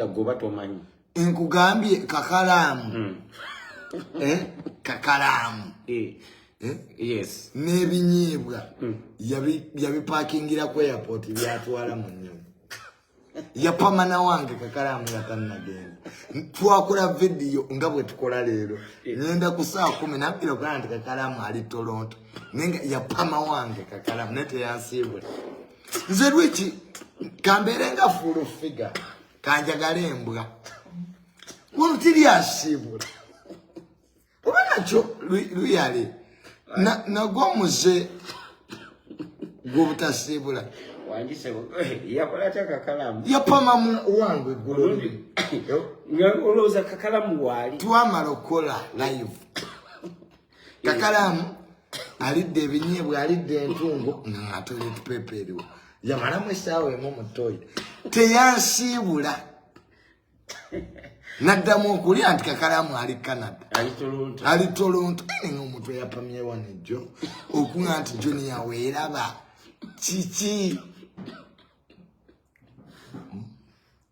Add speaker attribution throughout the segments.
Speaker 1: goba tomanyi nkugambye
Speaker 2: kakalaamu hmm. eh? kakalaamu eh.
Speaker 1: eh? n'ebinyiibwa
Speaker 2: hmm. yabipakingira ku airport byatwala mu nyonyi yapamana wange kakalaamu yatanagenda twakula vidiyo nga bwe tukola leero ngenda ku saa kumi nabira ogaa nti kakalaamu ali toronto naye nga yapama wange kakalaamu naye teyansiibula nze lwiki kambeere nga full figure kanjagala embwa wano tiryasiibula oba nakyo luyale nagwo muze gwobutasiibula
Speaker 1: yapamamu
Speaker 2: wange gwolowooza
Speaker 1: kakalamu waali twamala okukola
Speaker 2: live kakalaamu alidde ebinyeebwa alidde entungo nga toilet paper eriwo yamalamu esaawa emu mu toyi teyansiibula naddamu okulya nti kakalaamu ali canada ali tolonto nga omuntu eyapamyewa nejjo okuga nti junior weeraba kiki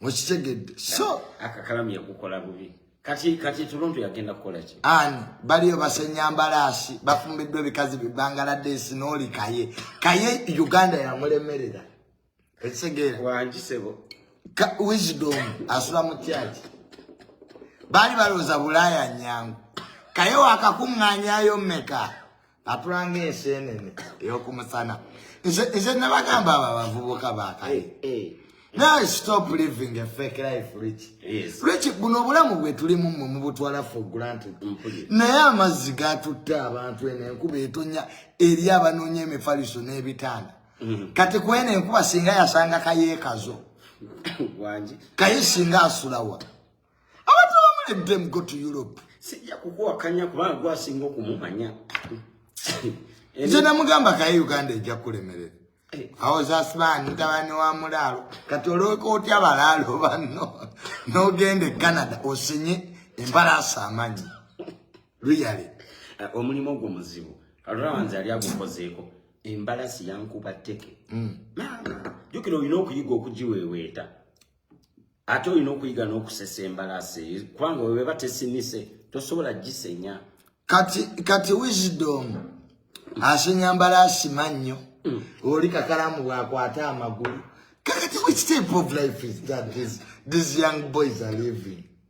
Speaker 2: mukitegedde so akakalamu yakukola
Speaker 1: bubi kati kati tuluntu yagenda kukola ki an baliyo
Speaker 2: basenya mbalaasi bafumbiddwa ebikazi bibangaladeesi n'oli kaye kaye uganda yamulemerera ekitegeera wangisebo
Speaker 1: wisdom
Speaker 2: asula mu kyaki baali balowooza bulaaya nyangu kaye wakakuŋŋanyayo meka atulanga ensenene eyokumusana nze nabagamba abo abavubuka bakale now stop living a fake life rich rich buno
Speaker 1: obulamu
Speaker 2: bwetulimu mwe mubutwala for granted naye amazzi gatutte abantu eno enkuba etonya eri abanoonya emifaliso n'ebitanda mm-hmm. kati kwena enkuba singa yasanga kayekazo
Speaker 1: kaye singa
Speaker 2: asulawa Abantu abamu let them go to Europe. Sijja kukuwakanya
Speaker 1: kubanga gwasinga okumumanya.
Speaker 2: Nze namugamba kaye Uganda ejja kulemerera. Eh. awo zasibani tabani wa mulaalo kati olwoka otya balaalo banno nogenda e canada osinye embalaasa amanyi luyale eh, omulimu
Speaker 1: ogwo muzibu alulawanzi ali agukozeeko embalasi yankuba teke mm. maama jukira olina okuyiga okugiweweeta ate olina okuyiga n'okusesa embalaasi eyo kubanga webeba tesinise tosobola gisenya kati
Speaker 2: kati wisdom asenya mbalaasi mannyo mm. oli kakalamu bwakwata amagulu kakati which type of life is that this, these young boys are living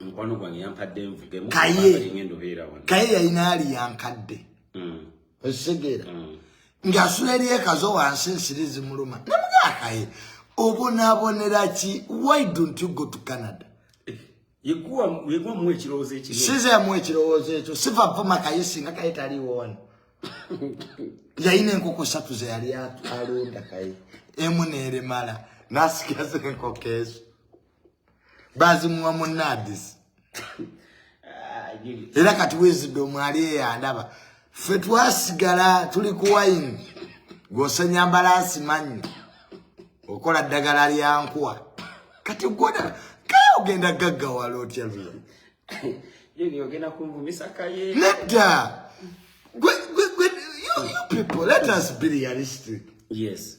Speaker 1: mukwano gwange yampadde nvugemu kaye yalina ali yankadde
Speaker 2: mm. ekitegeera mm. ng'asula eri ekazo wansi ensiri zimuluma namugakaye obonabonera ki why don't you go to canada
Speaker 1: sizeemu ekirowoozo
Speaker 2: ekyo siva vuma kaye singa kaye taliiwo wano yalina enkoko satu zeyali alonda kaye emu neeremala nasikira zenkoko ezo bazimuwa mu nadis ah, era kati wezidde omwali eyandaba ffe twasigala tuli ku wayini gwosenya mbalaasi manyi okola ddagala lyankuwa kati gwona kaye ogenda gaggawala otya luyo
Speaker 1: nedda
Speaker 2: gwe gwe gwe you people let us be realistic yes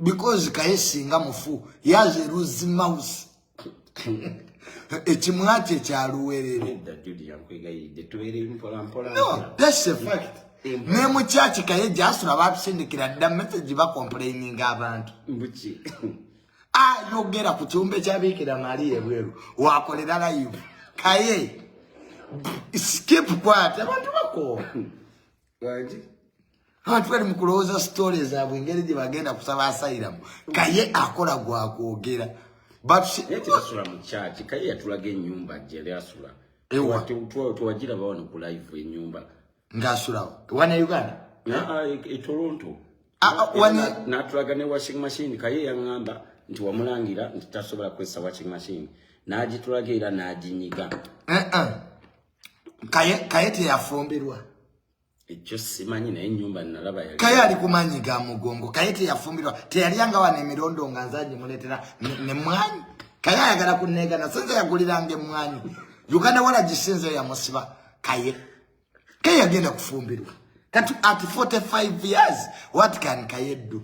Speaker 2: because kaye singa mufu yaze ruzi mouse ekimwa kye kya luwerere ne mu kyaki kaye gyasula babisindikira dda message bakomplaininga abantu ayogera ku kyumba ekyabiikira mali ebweru wakolera live kaye skip kwate abantu bakoowa Bwaji. Abantu bali mu kulowooza sitole zaabwe engeri gye bagenda kusaba asayiramu kaye akola gwa kwogera batusula
Speaker 1: mu kyaki kaye yatulaga ennyumba gyeyali asula
Speaker 2: tewajira bawano
Speaker 1: ku live ennyumba ngaasulawo
Speaker 2: wana uganda etoronto
Speaker 1: ah, ah,
Speaker 2: e, e, ah, e, natulaga ne washing
Speaker 1: machine kaye yaŋŋamba nti wamulangira nti tasobola kukozesa washing machine n'agitulaga era n'aginyiga eh, eh.
Speaker 2: kaye kaye teyafumbirwa ekyo
Speaker 1: simanyi naye nyumba nalaba yali kaye ali kumanyi ga
Speaker 2: mugongo kaye teyafumbirwa teyali anga wana emirondo nga nzanyi muletera ne mwanyi kaye ayagala kunegana sinze yaguliranga emwanyi uganda wala gisinze yamusiba kaye kaye yagenda kufumbirwa kati at 45 years what can kaye do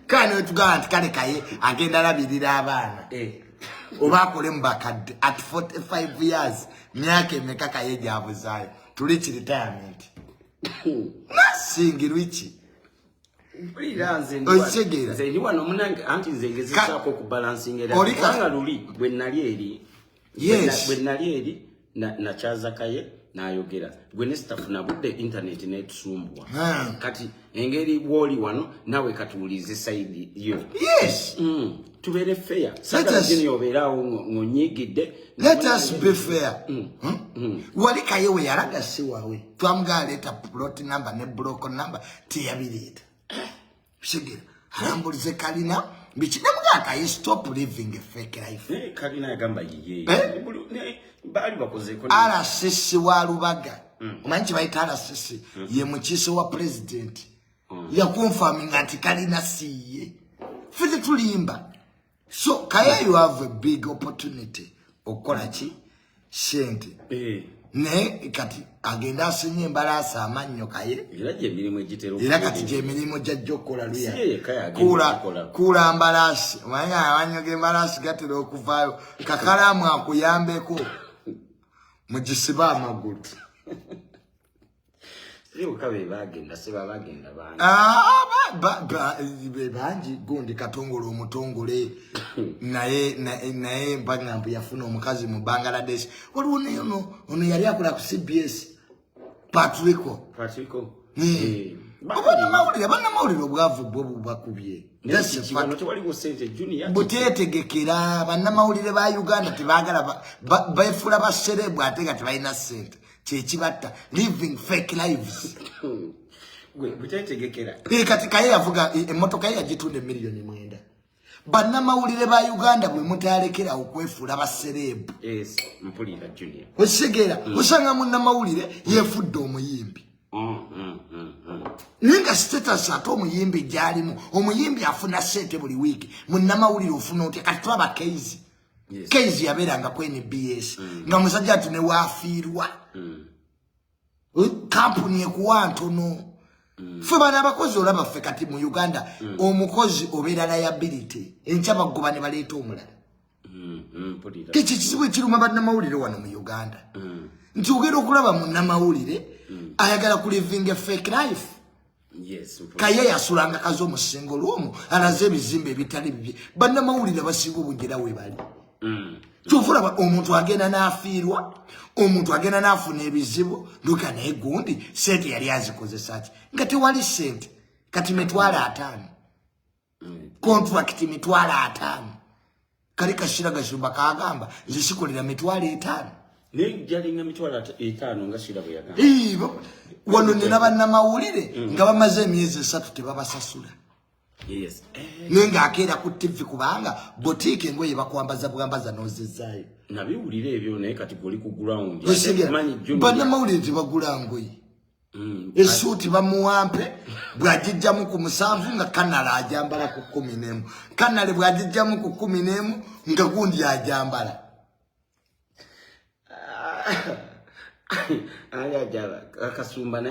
Speaker 2: kano tugamba nti kale kaye agenda labirira abaana eh. oba akole mu bakadde at 45 years myaka emeka kaye gyabuzaayo tuli ki retirement nasingi lwiki
Speaker 1: okitegeraoli kati yes bwe
Speaker 2: nali eri
Speaker 1: na na chaza kaye nayogera gwe ne staff na budde internet ne tusumbwa ah. kati engeri woli wano nawe kati ulize side yo yes mm.
Speaker 2: tubere
Speaker 1: fair sasa jini obera ngonyigide let us
Speaker 2: be fair mm. Hmm? Mm. wali kaye we yaraga si wawe twamga leta plot number ne block number tiyabirita Kitegeera alambulize kalina biki ne muganda ayi stop living a fake life. Naye kalina yagamba yiye.
Speaker 1: Eh? Baali bakozeeko. RCC wa
Speaker 2: Lubaga. Mm. Omanyi kye bayita RCC mm. ye mukiise wa president. Mm. Yakonfaminga nti kalina si ye. Ffe tetulimba. so kaya you have a big opportunity okukola ki sente eh. naye kati agenda asinye embalaasa amannyo kaye
Speaker 1: era kati gyemirimu
Speaker 2: gyajja okukola luyakuula
Speaker 1: mbalaasi
Speaker 2: omanyi amannyo g'embalaasi gatera okuvaayo kakalaamu akuyambeko mugisibe amagulu bebangi gundi katongole omutongole naye naye mpagamba mbu yafuna omukazi mu bangladesh waliwo neyono ono yali akola ku cbs patrico patrico eh. abanamawulire abanamawulire obwavu bwo bubakubye butetegekera banamawulire ba uganda tebagala befuula baserebu ate nga tebalina sente kyekibatta living fake lives
Speaker 1: kati kaye yavuga
Speaker 2: e, emotoka ye yagitunda emiliyoni mwenda bannamawulire ba uganda bwe mutalekera okwefuula basereebu
Speaker 1: okitegera mm. osanga
Speaker 2: munnamawulire mm. yefudde omuyimbi mm, naye nga status ate omuyimbi gyalimu omuyimbi afuna sente buli wiiki munnamawulire ofuna otya kati twabakeizi yes. kenzi yabeeranga ku nbs mm. nga musajja ati newaafiirwa mm. kampuni ekuwa ntono mm. fe bana abakozi olaba ffe kati mu uganda mm. omukozi obeera liability enkya bagoba ne baleeta omulala mm. mm. kiki kizibu ekiruma bannamawulire wano mu uganda mm. nti ogenda okulaba munamawulire mm. ayagala kulivinga fake life kaye yasulanga kazi omusingo lwomu alaze ebizimba ebitali bibye bannamawulire basiga obunjera webali mm. kyokulaba omuntu agenda nafiirwa omuntu agenda nafuna ebizibu ndoga naye gundi sente yali azikozesaki nga tewali sente kati mitwalo ataano contract mitwalo ataano kali kashira gashumba kagamba nze sikolera mitwalo
Speaker 1: etaano wano nina
Speaker 2: bannamawulire mm. nga bamaze emyezi esatu tebabasasula eh.
Speaker 1: naye ngaakeera
Speaker 2: ku tivi kubanga botiika engoye bakwambaza bwambaza nozezaayo
Speaker 1: bannamawulire
Speaker 2: tebagula ngoye Mm, esuuti bamuwampe bwagijjamu ku musanvu nga kanala ajambala ku kumi nemu kanale bwagijjamu ku kumi nemu nga gundi ajambala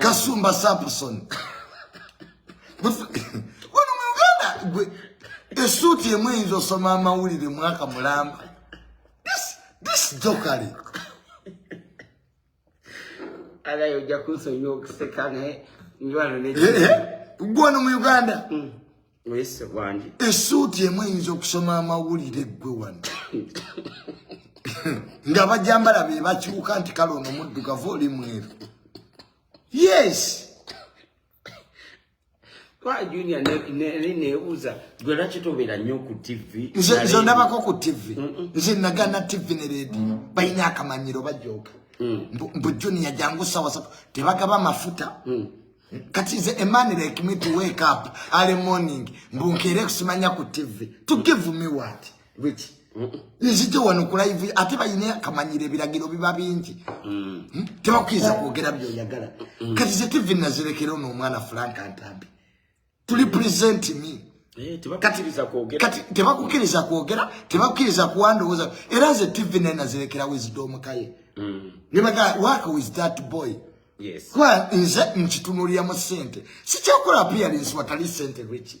Speaker 1: kasumba samson
Speaker 2: wano mu uganda gwe esuuti emu eyinza osoma amawulire mwaka mulamba this jokale
Speaker 1: Alaye ojja kunsonyiwa okuseka naye njwalo ne eh, eh, gwano mu
Speaker 2: Uganda mm. wese
Speaker 1: wangi esuuti emu eyinza
Speaker 2: okusoma amawulire gwe wano nga bajambala be bakyuka nti kale ono muddugavu oli mweru yes
Speaker 1: Kwa junior ne ne ne ne uza gwe lwaki tobeera nnyo ku TV nze nze ndabako ku
Speaker 2: TV nze nagana TV ne radio mm. balina akamanyiro bajooka mm. mbu junior jangu sawa sawa tebagaba mafuta mm. kati nze a man like me to wake up early morning mbu nkeere kusimanya ku TV to give me what Rich. Nzije wano ku live ate bayine akamanyira ebiragiro biba bingi. Mm. Hmm? Tebakwiza kwogera byo yagala. Mm. Kati ze TV nazirekera ono omwana Frank Antambi. Tuli present me. Eh, tebakukiriza
Speaker 1: kwogera. Kati tebakukiriza
Speaker 2: kwogera, tebakukiriza kuwandowoza. Era ze TV naye nazirekera wisdom kaye. Mm. Ne baga work with that boy. Yes. Kwa
Speaker 1: nze
Speaker 2: nchitunulira mu sente. Sichakula appearance watali sente Richie.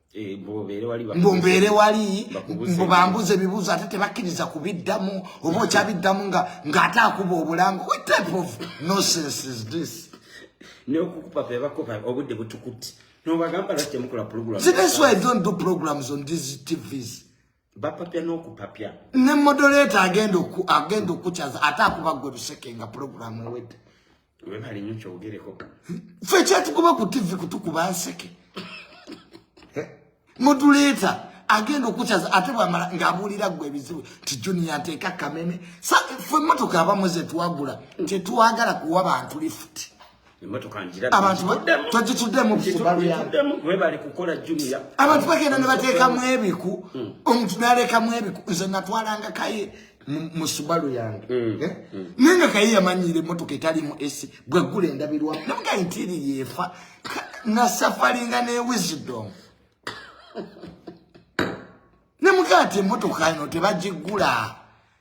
Speaker 2: Eh, mbubeere wali mbu bambuza ebibuuzo ate tebakkiriza kubiddamu oba okyabiddamu nga ng'ate akuba obulango what type of nonsense is this nokukupa
Speaker 1: pebakopa obudde butukuti nobagamba lwaki temukola program see that's why i don't do
Speaker 2: programs on these tvs bapapya
Speaker 1: n'okupapya ne modoleta
Speaker 2: agenda oku agenda okukyaza ate akuba gwe luseke nga pulogulaamu ewedde webali nyo
Speaker 1: kyogereko fe
Speaker 2: kyatukuba ku tivi kutukuba nseke eh? moduleta agenda okukyaza ate bwamala ng'abuulira gwe ebizibu nti juniya nteeka kameme fe emmotoka abamu ze twagula tetwagala kuwa bantu lifuti
Speaker 1: abantu
Speaker 2: twagikiddemu webale kukola
Speaker 1: juniya abantu bagenda ne
Speaker 2: bateekamu ebiku hmm. omuntu nalekamu ebiku nze natwalanga kaye mu subalu yange hmm. Eh? Hmm. naye nga kaye yamanyiira emotoka etalimu esi bwegula endabirwa namuga entiiri yeefa nasafalinga ne wisdom nemugaa ti emotoka ino tebagigula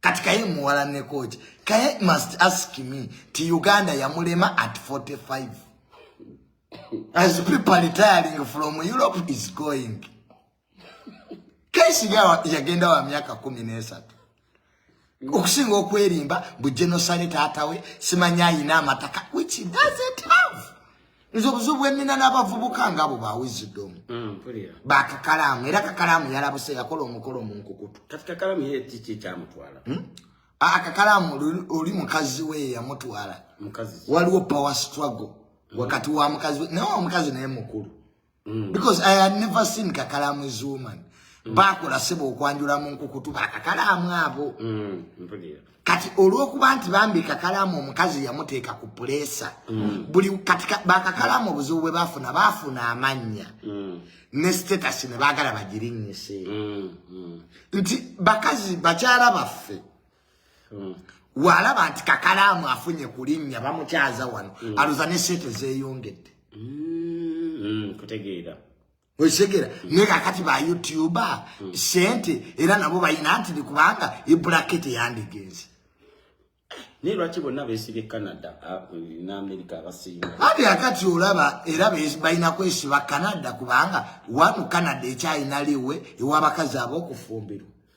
Speaker 2: kati kaye muwala nekoki kaye must ask me ti uganda yamulema at 45 as people retiring from europe is going kesi yagenda wa myaka kumi nesatu okusinga okwerimba bu genosale taatawe simanya ayina amataka which doesn't have nze obuzibu bwenina n'abavubuka ngaabo ba wisdom mm, bakakalaamu era kakalaamu yalabuse yakola omukolo munkukutu hmm?
Speaker 1: akakalaamu
Speaker 2: oli mukazi we yamutwala waliwo
Speaker 1: power struggle
Speaker 2: wakati wa mukazi we naye omukazi naye mukulu mm. because i had never seen kakalamu is woman mm. bakola sebo okwanjula mu nkukutu bakakalamu abo mm. kati olwokuba nti bambi kakalamu omukazi yamuteeka ku pulesa mm. buli kati bakakalamu obuzibu bwe bafuna bafuna amannya mm. ne status ne bagala bagirinyise mm. mm. nti bakazi bakyala baffe mm. walaba nti kakalaamu afunye ku linnya bamukyaza wano mm. aluza ne sente zeyongedde mm,
Speaker 1: kutegeera okitegera
Speaker 2: naye kakati ba youtuba sente era nabo balina nti ni kubanga ebulakete yandigenze
Speaker 1: naye lwaki bonna besibye canada ne amerika abasiima ati akati
Speaker 2: olaba era balina kwesiba canada kubanga wanu canada ekyalina liwe ewabakazi ab'okufumbirwa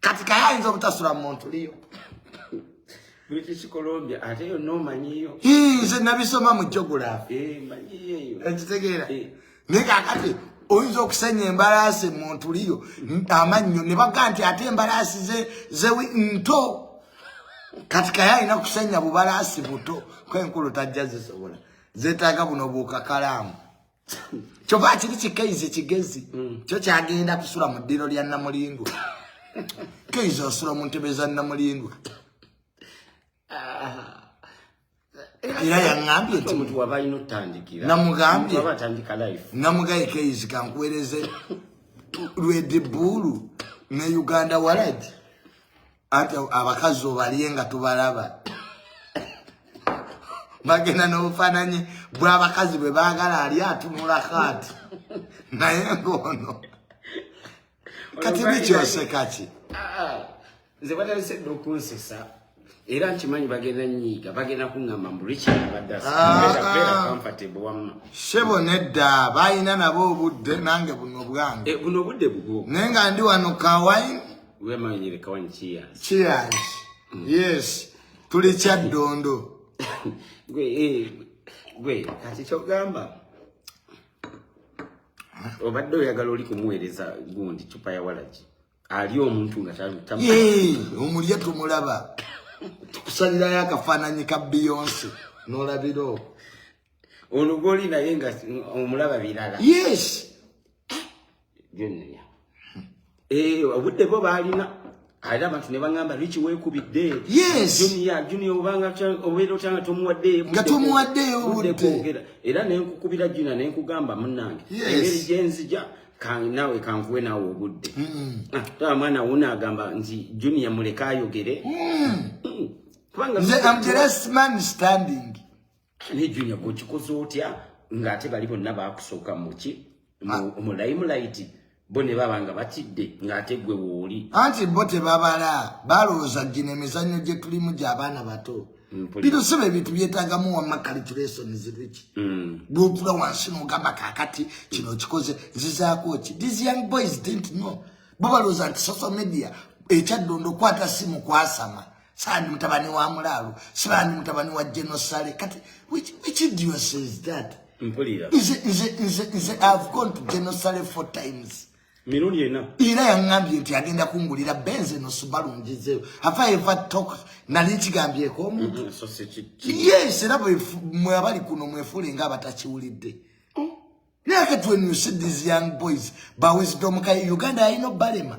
Speaker 2: kati kaye ayinza obutasula mu muntu liyo
Speaker 1: british colombia ate yo nomanyiyo nze nabisoma
Speaker 2: mu jogulafi eh,
Speaker 1: ekitegeera eh.
Speaker 2: naye kakati oyinza okusenya embalaasi mu ntu liyo amannyo ne baga nti ate embalaasi zewi nto kati kaye alina kusenya bubalaasi buto kwenkulu tajja zisobola zetaaga buno buukakalaamu kyova kiri kikeizi kigezi mm. kyo kyagenda kusula mu ddiro lya namulindwa keizi osula mu ntebe za namulindwa ah. era yaŋambye nti omuntu waba alina otandikira
Speaker 1: namugambye waba
Speaker 2: atandika life
Speaker 1: namugaye keyizi
Speaker 2: kankuwereze lwedibuulu ne uganda waladi ate abakazi obalye nga tubalaba bagenda n'obufaananyi bw'abakazi bwe baagala ali atunula kaati naye ng'ono kati bikyoseka ki
Speaker 1: nze batalese dda okunsesa era nkimanyi bagenda nyiiga bagenda kuŋŋamba mbu rikiabaddasabeerakamfatebu ah, ah. wamma sebo nedda
Speaker 2: balina nabo obudde nange buno bwange eh, buno obudde bubwo
Speaker 1: naye nga ndi wano
Speaker 2: kawine Wewe mama yenyewe kawan
Speaker 1: cheers. Cheers.
Speaker 2: Mm. Yes. Tuli cha dondo. Gwe eh
Speaker 1: gwe kati chogamba. Obadde oyagala oli kumuweereza gundi chupa ya walaji. Ali omuntu nga tamu. Yee,
Speaker 2: omulya tumulaba. Tukusalira yakafananyi ka Beyonce. Nolabiro.
Speaker 1: olugoli naye nga omulaba birala yes
Speaker 2: byonnonya
Speaker 1: eh, obudde bo baalina ate abantu ne baŋamba lwiki weekubidde juniya juniya obanga obeera otya nga tomuwaddeyo nga tomuwaddeyo buddekwogera era ne nkukubira juniya ne nkugamba munnange engeri gye nzija naawe kankuwe naawe obudde ah, taba mwana wuna agamba nti juniya muleka ayogere
Speaker 2: mm. mm. kubanga ne junior
Speaker 1: gwe okikoze otya ng'ate bali bonna baakusooka muki mulayimulayiti ah. bo ne baba nga batidde ng'ate gwe wooli anti bo tebabala
Speaker 2: balowooza gino emizannyo gye tulimu gy'abaana bato mm, bino siba ebintu byetagamu wamma calculation ziriki mm. bwotula wansi nogamba kakati kino kikoze zizaako ki these young boys didn't know bo balowooza nti social media ekyaddondo okwata simu kwasama sandi mutabani wa mulaalo sibandi mutabani wa genosale kati which, which idios is that mpulira
Speaker 1: nze nze nze nze
Speaker 2: i've gone to genosale four times mirundi ena
Speaker 1: era yangambye nti
Speaker 2: agenda kungulira benze no subaru njizeyo have i ever talked nali nkigambyeko omuntu mm -hmm. yes era mwe abali kuno mwefuule nga abatakiwulidde oh. naye kati when you see these young boys ba wisdom kaye uganda ayina obalema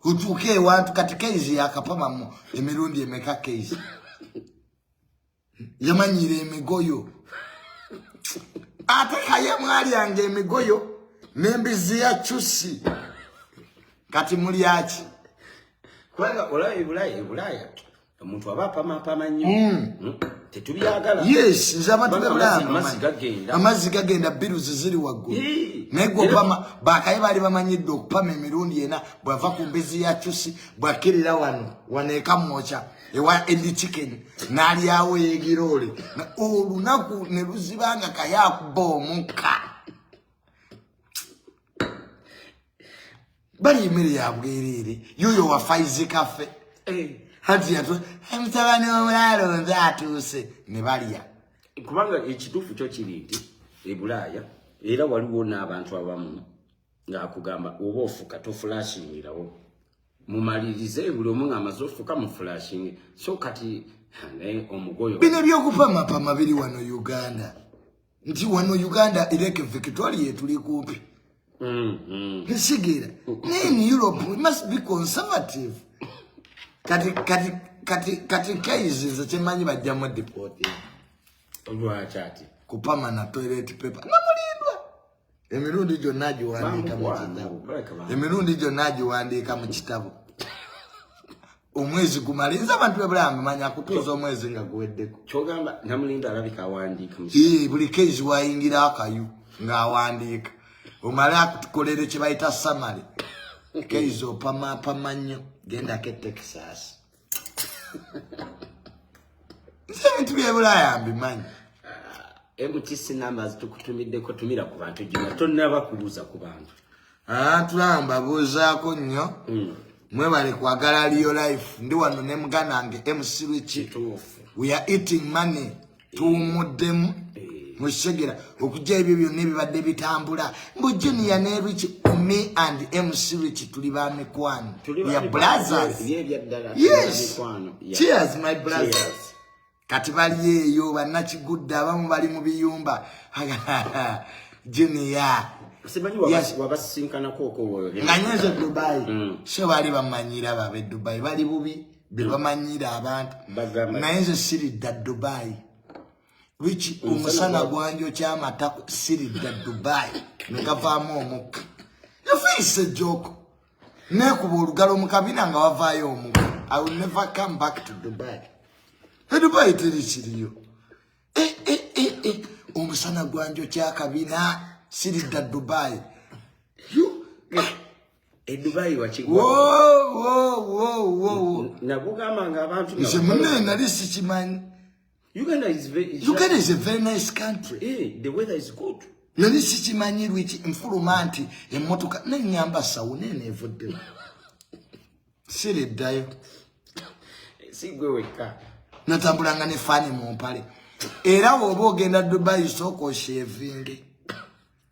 Speaker 2: kutuuka ewantu kati keizi yakapamamu emirundi emeka keizi yamanyiira emigoyo ate kaye mwalyanga emigoyo nembizi ya cusi kati mulyaki kubanga
Speaker 1: olaba ebulaaya ebulaaya omuntu aba apamaapama nnyo hmm. hmm? tetubyagala yes nze abantu
Speaker 2: bebulaamazzi gagenda biruzi ziri waggulu naye gwe opama bakaye baali bamanyidde okupama emirundi ena bwava ku mbezi ya cusi bwakirira wano wano ekamwoca ewa endi chicken nalyawo yegiroole olunaku ne luzibanga kaye akuba omukka bali emere ya bwerere yoyo wa faizi kafe eh. hati yatu mtabani wa mulalo nze atuse ne baliya kubanga
Speaker 1: ekitufu kyo kiri nti ebulaya era waliwo n'abantu abamu ng'akugamba oba ofuka tofulashingirawo mumalirize buli omu ng'amaze ofuka mufulashinge so kati naye omugoyo bino by'okupamapama
Speaker 2: biri wano uganda nti wano uganda ireke victoria etuli kumpi mm-hmm. nsigera naye in europe we must be conservative kati kati kati kati kaizi nze kyemanyi bajjamu dipoti
Speaker 1: lwaki ati kupama na
Speaker 2: toilet paper namulindwa emirundi gyonna giwandiika mu kitabo emirundi gyonna giwandiika mu kitabo omwezi gumale nze abantu bebulamu manya kutuuza omwezi nga guweddeko kyogamba namulinda
Speaker 1: alabika awandiika ee buli kezi
Speaker 2: wayingira akayu ng'awandiika omale akutukolere kye bayita samale kezi opamapama nnyo gendako etexas nze ebintu byebulaaya mbimanyi eh,
Speaker 1: mtc numbers tukutumiddeko tumira ku bantu gina tonaba kubuuza ku bantu ah, tulamba
Speaker 2: buuzaako nnyo hmm. mwebale kwagala liyo life ndi wano ne muganda nge mc richi we are eating money tuwumuddemu eh. mukisegera okujja ebyo byonna ebibadde bitambula mbu junior ne rich me and mc rich tuli ba mikwano ya brothers yes cheers my brothers kati bali eyo bannakigudde abamu bali mu biyumba junior
Speaker 1: nga nyenze dubai
Speaker 2: mm. so bali bamanyira babe dubai bali bubi bebamanyiira abantu naye nze siridda dubai wiki omusana gwanjo kyamata siridda dubai negavaamu omukka yafiise joko nekuba olugalo mukabina nga wavaayo omukka i will never come back to dubai edubai teri kiriyo eh, eh, eh, omusana gwanjo kyakabina siridda dubai
Speaker 1: edubayi wakigwanagugamba
Speaker 2: nga abantu
Speaker 1: nze mune nali
Speaker 2: sikimanyi
Speaker 1: uganda is a very
Speaker 2: nice country eh, the weather is
Speaker 1: good nali sikimanyi
Speaker 2: lwiki nfuluma nti emotoka nenyamba sawu nene evudde siri eddayo
Speaker 1: sigwe wekka natambulanga ne
Speaker 2: fani mu mpale era woba ogenda dubayi sooka oshevinge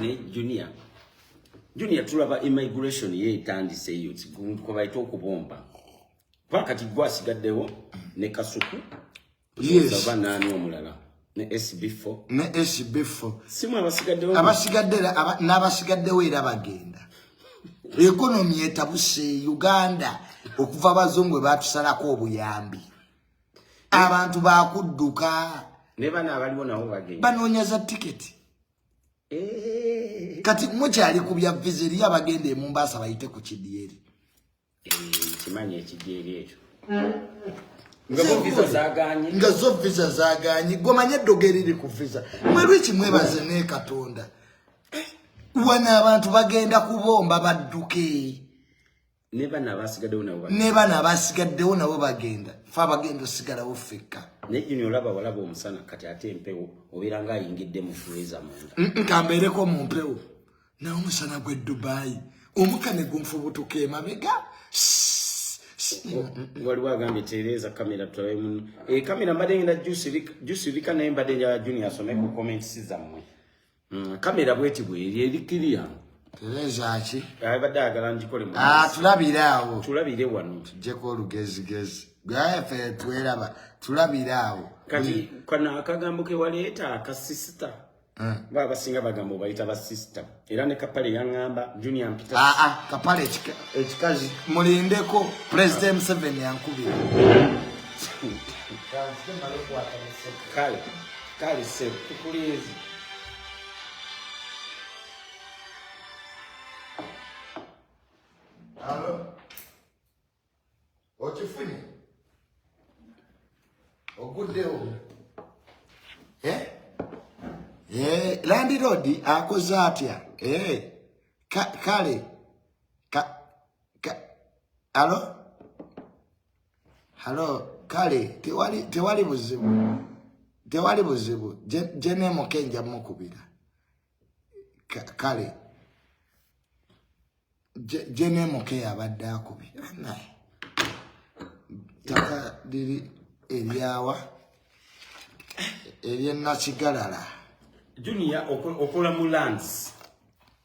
Speaker 2: ne junior
Speaker 1: junior tulaba immigration ye etandise eyo kubaita okubomba kuba kati gwe asigaddewo ne kasuku
Speaker 2: oba naani omulala
Speaker 1: ne sb4 ne sb4 simu abasigaddewo abasigadde n'abasigaddewo
Speaker 2: era bagenda ekonomi etabuse uganda okuva abazungu bwe batusalako obuyambi abantu bakudduka ne bana abaliwo
Speaker 1: nabo bagenda banoonya za tiketi
Speaker 2: eh. kati mukyali ku bya viza eriyo abagenda e Mombasa bayite ku kidyeri eh,
Speaker 1: kimanyi ekidyeri ekyo
Speaker 2: nga zo viza zaganye gwomanye eddogo eriri ku viza mwelwiki mwebaze ne katonda eh, wana abantu bagenda kubomba badduke ne
Speaker 1: bana abasigaddewo nabo ne bana
Speaker 2: abasigaddewo nabo bagenda fe abagenda osigalawo ffekka naye juni olaba
Speaker 1: walaba omusana kati ate empewo obeera nga ayingidde mu freeza munda nkambeereko mu mpewo
Speaker 2: naye omusana gw'e dubaayi omuka ne gunfubutuka emabega
Speaker 1: waliwo agambye tereeza kamera tulabe muno ekamera eh, mbadde ngenda jusirika naye mbadde njala juni asome ku comments zammwe Mm, kamera bweti bweri eri kiriya terezaaki
Speaker 2: abadde ayagala ngikole
Speaker 1: ah, tulabire awo
Speaker 2: tulabire wano
Speaker 1: tujjeko olugezigezi
Speaker 2: gwefe tweraba tulabire awo kati kano
Speaker 1: akagambo kewaleeta akasisita eh. ba basinga bagamba obayita basisita era ne kapale yaŋŋamba junior mpita aa ah, ah, kapale
Speaker 2: ekikazi mulindeko president museveni yankubira
Speaker 1: kale Kale ssebo
Speaker 2: tukulinze. Alo. Okifunye? Oguddewo. Eh? Eh, landiroodi akoze atya? Eh. Ka, kale. Ka, ka, alo? halo kale tewali tewali buzibu tewali buzibu jenemuke nja mukubira kale jenemuke yabadde akubira naye taka liri eryawa eryenakigalala junior
Speaker 1: okola mu lands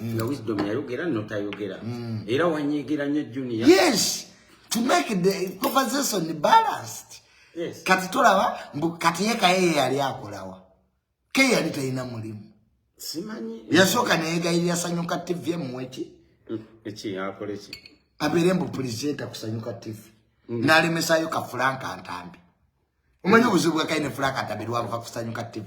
Speaker 1: mm. nga wisdom yayogera notayogera mm. era wanyigira nyo junior yes to
Speaker 2: make the conversation balanced yes. kati
Speaker 1: tolaba
Speaker 2: mbu kati yeka yeye yali akolawa ke yali talina mulimu simanyi
Speaker 1: yasooka neyegayirira
Speaker 2: sanyuka tv emuweki mm, eki
Speaker 1: akoleki abeere mbu pulisenta
Speaker 2: kusanyuka tv mm. nalemesayo kafulanka ntambi omanyi obuzibu bwakaine fulanka ntambi lwabuva kusanyuka tv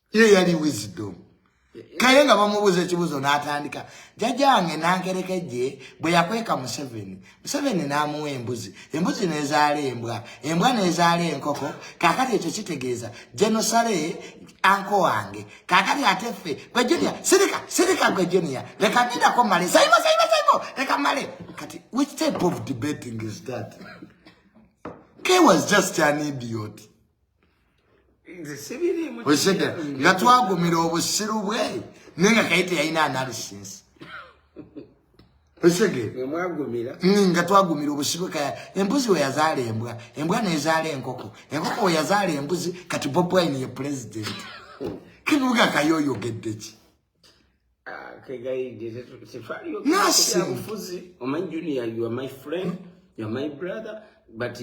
Speaker 2: ye yali wisdom kale nga bamubuuza ekibuuzo n'atandika jajange nankereka ejje bwe yakweka museveni museveni n'amuwa embuzi embuzi n'ezaala embwa embwa n'ezaala enkoko kakati ekyo kitegeeza genosale anko wange kakati ate ffe gwe junia sirika sirika gwe junia leka ndidako male saimo saimo saimo leka male kati which type of debating is that ke was just an idiot okitegera nga twagumira obusiru bwe naye nga kaye teyalina analysis okitegera nga
Speaker 1: twagumira
Speaker 2: obusiru bwe kaya embuzi weyazaala embwa embwa nezaala enkoko enkoko weyazaala embuzi kati bob wine ye pulezidenti kinuga kaye oyogeddeki
Speaker 1: Ah, nasingabufuzi
Speaker 2: omanyi junior
Speaker 1: you are my friend you are my brother but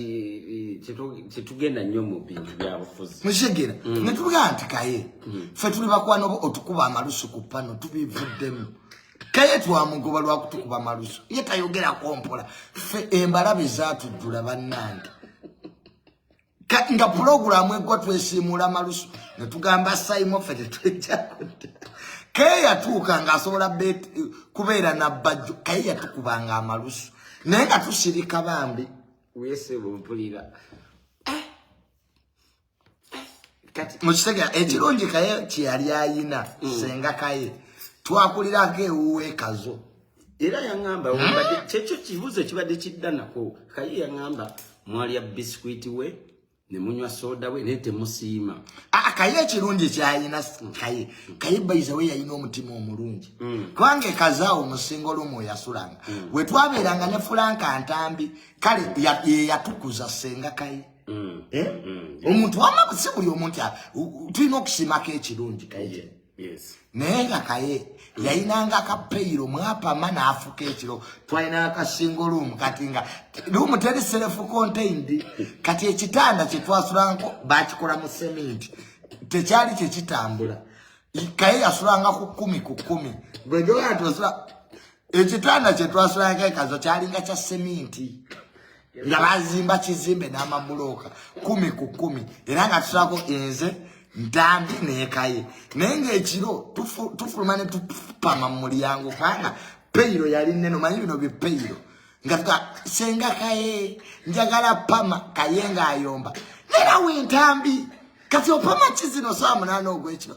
Speaker 1: tetugenda eh, eh, nnyo mu bintu byabufuzi mukitegera mm.
Speaker 2: netugaa nti kaye mm. fe tuli bakwana oba otukuba amalusu ku pano tubivuddemu kaye twamugoba lwakutukuba amalusu ye tayogera kompola fe embalabe zatujjula bannange kati nga pulogulaamu eggwa twesiimuula malusu ne tugamba sayimo ffe tetwejja kudda kaye yatuuka ng'asobola kubeera nabbajjo kaye yatukubanga amalusu naye nga tusirika bambi wesebumpulira
Speaker 1: eh, eh, mukitega
Speaker 2: ekirungi kaye kyeyali ayina mm. senga kaye twakulirako ewuwe kazo era yaŋŋamba
Speaker 1: webadde kyekyo kibuuzo ekibadde kidda nako kaye yaŋŋamba mwalya bisikwiti we ne munywa sooda we naye temusiima ah, ah, kaye
Speaker 2: ekirungi kyayina kaye kaye bayiza we yalina omutima omulungi mm. kubanga ekazaawo omusinga olumu oyasulanga mm. we twabeeranga ne fulanka ntambi kale yeyatukuza senga kaye mm. eh? omuntu wamabusi buli omuntu tulina okusiimako ekirungi kaye naye
Speaker 1: nga kaye
Speaker 2: yayinanga ka peyiro mwapama n'afuka ekiro twalina akasingo luumu kati nga luumu teri serefu contained kati ekitanda kye twasulanko bakikola mu seminti tekyali kye kitambula kaye yasulanga ku kkumi ku kkumi bwegewaa tosula ekitanda kye twasulanko ekazo kyalinga kya seminti nga bazimba kizimbe n'amabulooka kumi ku kumi era nga tusako enze ntambi nekaye naye ngaekiro tufuluma ne tupama mu mulyango kubanga peyiro yali neno manyi bino bipeyiro nga tuga senga kaye njagala pama kaye ngaayomba nerawe entambi kati opama kizino saa munaana ogwekiro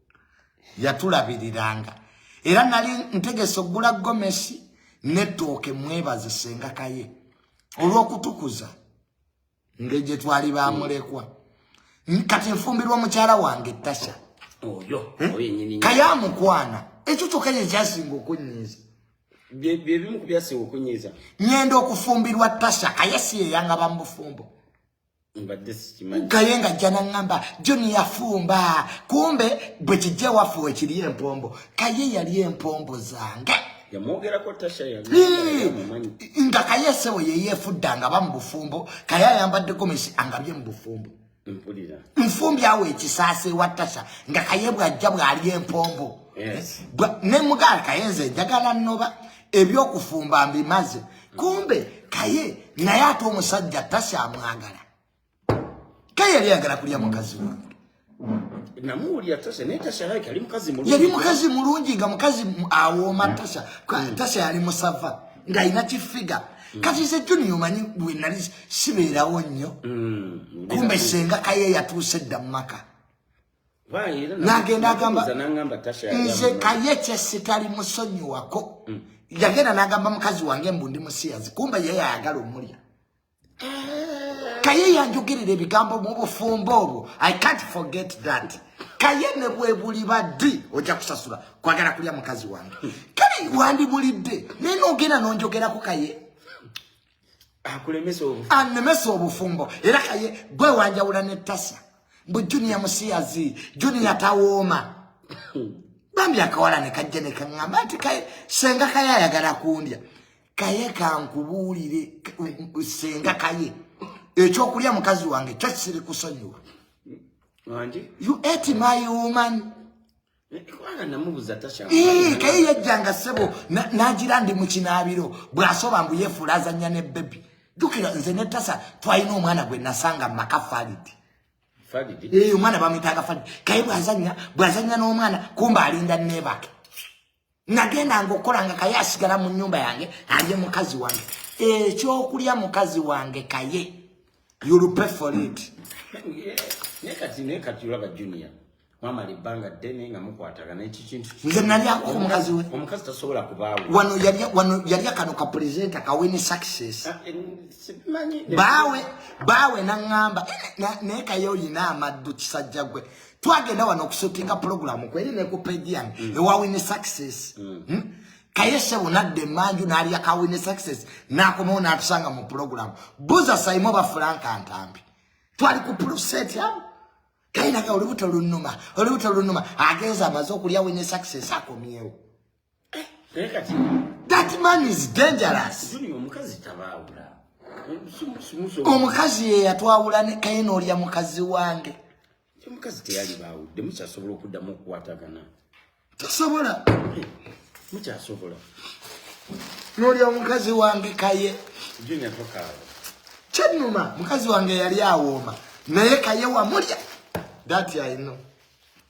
Speaker 2: yatulabiriranga era nali ntegese okugula gomesi netooke mwebaze sengakaye olwokutukuza ngeri gye twali bamulekwa kati nfumbirwa mukyala wange tasha oyo
Speaker 1: hmm? kayamukwana
Speaker 2: ekyo kyokka kye kyasinga okunyiiza byebimu
Speaker 1: ku byasinga okunyiiza nyenda okufumbirwa
Speaker 2: tasha kaye si yeyangaba mu bufumbo gaye nga ajja naŋŋamba joni yafumba kumbe bwe kijja ewaffe wekiri empombo kaye yali empombo zange nga kaye esewo yeyefudda nga ba mu bufumbo kaye ayambadde gomesi angabye mu bufumbo
Speaker 1: nfumbi awo
Speaker 2: ekisaasa ewa tasha nga kaye bwajja bwali empombo
Speaker 1: ne mugaala
Speaker 2: kaye nze njagala nnoba ebyokufumba mbimaze kumbe kaye naye ate omusajja takyamwagala kaye yali yagala kulya mukazi wange namuwulira tasha
Speaker 1: naye tasha like ali mukazi mulungi yali mukazi mulungi
Speaker 2: nga mukazi awooma tasha tasha yali musava ng'alina kifiga kati nze juni omanyi bwe nali sibeerawo nnyo mm, kumbe senga kaye yatuuse dda mu maka nagenda agamba nze kayekye sitali musonyiwako mm. yagenda nagamba mukazi wange mbu ndi musiyazi kumba yeye ayagala omulya eh. kaye yanjogirira ebigambo mu bufumbo obwo i can't forget that kaye ne bwebuli baddi ojja kusasula kwagala kulya mukazi wange hmm. kale wandibulidde naye nogenda nonjogerako kaye akulemesa obufumbo anemesa obufumbo era kaye gwe wanjawula ne tasa mbu junior musiyazi junior tawooma bambi akawala ne kajja ne kaŋŋamba nti kaye senga kaye ayagala kundya kaye kankubuulire senga kaye ekyokulya mukazi wange kyo kiri kusonyiwa you ate my woman Ee, kaye yajjanga ssebo n'agira ndi mu kinaabiro bw'asoba mbu yeefuula azannya ne bebi jjukira nze ne tasa twalina omwana gwe nasanga mu maka falidi eyo omwana bamwitanga falidi kaye bw'azannya bw'azannya n'omwana kumba alinda neebake nagendanga okukola nga kaye asigala mu nyumba yange alye mukazi wange ekyokulya mukazi wange kaye yulupefolit
Speaker 1: mwamala ebbanga ddene nga mukwataga nekikintu nze nalyako omukazi
Speaker 2: we omukazi tasobola kubaawo
Speaker 1: wano wano
Speaker 2: yalya kano ka presenta kawini success ah, eh, baawe baawe naŋŋamba eh, naye kaye olina amaddu kisajja gwe twagenda wano okusutinga pulogulamu kweri ne ku peji yange mm. ewa wini success mm. hmm? kaye sebo nadda emanju n'alya ka wini success n'akomawo n'atusanga mu pulogulamu buza sayimu oba fulanka ntambi twali ku puloseti awo kaye naga olubuto lunuma olubuto lunuma agenza amaze okulya wini success akomyewo That man is dangerous.
Speaker 1: Omukazi
Speaker 2: ye yatwawula ne kaye n'olya mukazi wange. Omukazi
Speaker 1: teyali baawudde mukyasobola okuddamu okukwatagana. Tosobola. Mukyasobola.
Speaker 2: N'olya omukazi wange kaye. Junior tokaawa.
Speaker 1: Kyennuma
Speaker 2: mukazi wange yali awooma naye kaye wamulya. That I know.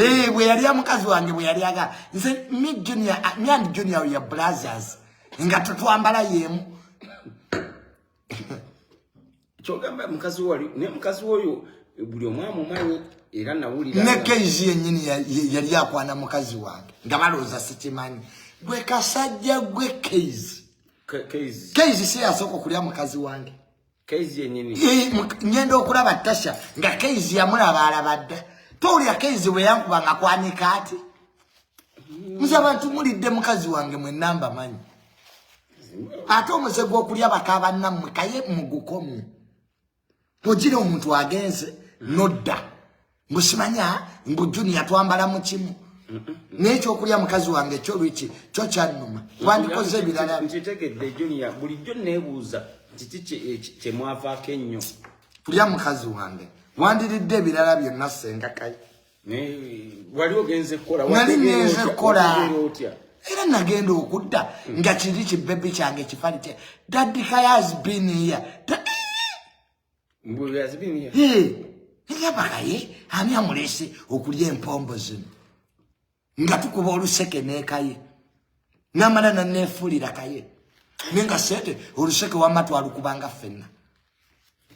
Speaker 2: Eh, bwe yali amukazi wange bwe yali aga nze mi junior ah, mi and junior ya blazers nga tutwambala yemu
Speaker 1: kyogamba mukazi wali ne mukazi woyo buli omwamu manyi era nawulira ne kenji yenyini
Speaker 2: yali akwana mukazi wange nga baloza sikimanyi gwe kasajja gwe keizi keizi si yasoko kulya mukazi wange Keizi yenini.
Speaker 1: Yee, nyenda okula
Speaker 2: batasha. Nga keizi ya mula bala bada. Tori ya keizi we yangu wanga kwa nikati. Mm. Mzaba tumuli demukazi wange mwe namba manyi. Ate omuze gwo kulia bakaba namwe kaye mugukomu. Tojile omuntu agenze. Noda. Mm. Musimanya mbu junior twambala mu kimu. N'ekyokulya mukazi wange kyo lwiki kyo kyannuma. Wandikoze ebirala. Nkitegedde junior
Speaker 1: bulijjo neebuuza kiki kye mwavaako
Speaker 2: ennyo. Kulya
Speaker 1: mukazi
Speaker 2: wange wandiridde ebirala
Speaker 1: byonna
Speaker 2: ssenga kayi.
Speaker 1: Wali ogenze kukola. Wali ngenze kukola.
Speaker 2: era nagenda okudda nga kiri kibebi kyange kifalite daddy kayazi biniya
Speaker 1: yabakaye
Speaker 2: ani amulese okulya empombo zino nga tukuba oluseke nekaye namala nanefulira kaye nenga sente oluseke wama twalukubanga fenna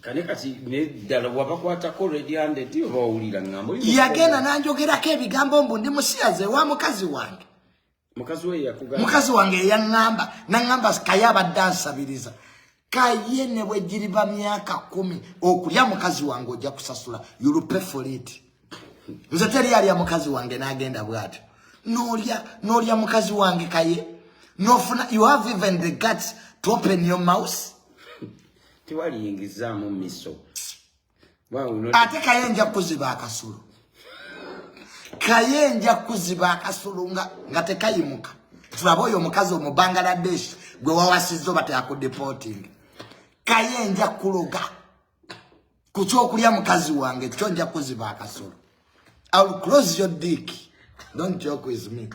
Speaker 2: kale
Speaker 1: kati neddala wabakwatako rediandedi oba owulira ngambo yagenda nanjogerako
Speaker 2: ebigambo mbu ndi musiyaze wa mukazi wange
Speaker 1: mukazi wange eyaŋŋamba
Speaker 2: naŋŋamba kaye abadde ansabiriza kaye ne bwe giriba myaka kumi okulya mukazi wange ojja kusasula yulupefolit nze teri alya mukazi wange n'agenda bw'atyo n'olya n'olya mukazi wange kaye n'ofuna you have even the guts to open your mouse
Speaker 1: tewaliyingizaamu miso
Speaker 2: ate kaye nja kuziba akasolo kaye nja kuziba akasolo nga tekayimuka tulaba oyo omukazi omubangaladesh gwe wawasizza oba teyakudeporting kaye nja kuloga ku kyokulya mukazi wange kyo nja kuziba akasolo iwill close your dick don't joke with me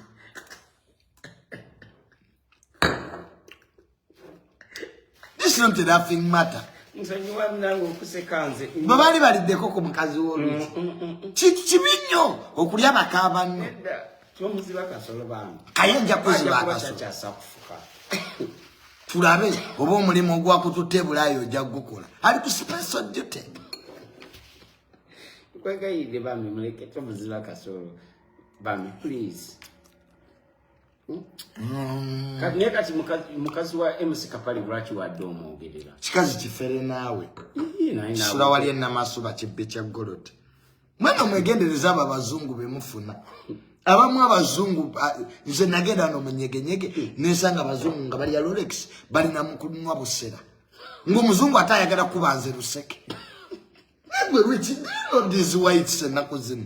Speaker 2: This is not a laughing matter.
Speaker 1: bwe baali baliddeko
Speaker 2: ku mukazi w'oluki mm, mm, mm, kibi nnyo okulya baka banno
Speaker 1: kaye nja kuziba
Speaker 2: akasolo tulabe oba omulimu ogwakututte ebulaayi ojja kugukola ali ku special duty kwegayidde
Speaker 1: bami muleke tomuziba kasolo bami please Mm. kati naye kati mukazi wa mc kapale lwaki wadde omwogerera kikazi kifere
Speaker 2: naawe kisula wali enamasuba kibbi kya goloti mwena omwegendereza abo abazungu bemufuna abamu abazungu nze nagenda no munyegenyege nesanga abazungu nga bali ya rolex balina mukunwa busera ngaomuzungu ate ayagala kuba nze luseke negwe rich dino these whites enaku zino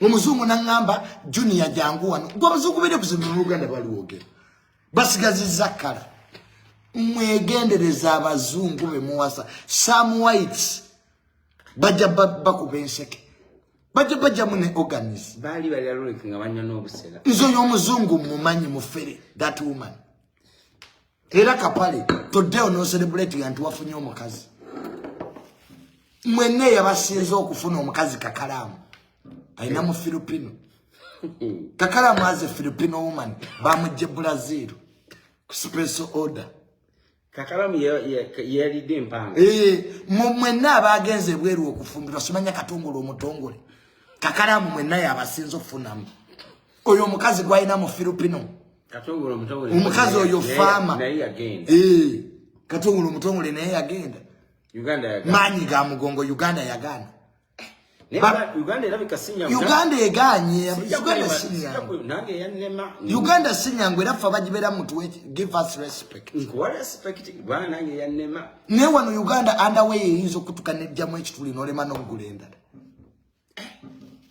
Speaker 2: omuzungu naŋŋamba junia jangu wano gwe abazungu bene kuzimba mu uganda baliwogera basigaziza kala mwegendereza abazungu bemuwasa some whites bajja bakuba enseke bajja bajjamu ne organis
Speaker 1: nze oyo omuzungu
Speaker 2: mumanyi mufere that woman Era kapale today ono celebrate yantu wafunye omukazi. Mwene yabasinze okufuna omukazi kakalamu. Aina mu Filipino. Kakalamu as a Filipino woman bamujje Brazil. Special order. Kakalamu
Speaker 1: yalidde ye, ye empanga. Eh, mwene
Speaker 2: abagenze ebweru okufumbirwa simanya katongole omutongole. Kakalamu mwene yabasinze okufunamu. oyo omukazi gwalina mu filipino
Speaker 1: omukazi oyo faama
Speaker 2: eh,
Speaker 1: katongole
Speaker 2: omutongole naye yagenda
Speaker 1: maanyi ga mugongo
Speaker 2: uganda yagaana
Speaker 1: uganda eganye
Speaker 2: uganda sinyangu era fe bagibera mutu give us respect
Speaker 1: naye wano uganda
Speaker 2: andaweyo eyinza okutuka nejjamu ekituli nolema nokugula endala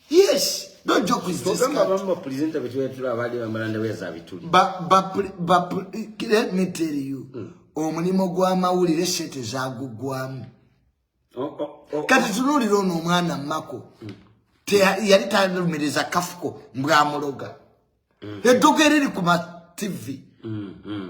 Speaker 2: Yes. Don't joke with this. Kama mama presenter wetu
Speaker 1: wetu la wadi wamaranda weza vituli. Ba, ba,
Speaker 2: ba, let me tell you. Mm. Omulimu gwa mawulire sete za gugwamu. Oh, oh, oh. Kati tunulira ono omwana mako. Mm. Te yali talumiriza kafuko mbwa muloga. Mm. Edogereri kuma TV. Mm. Mm.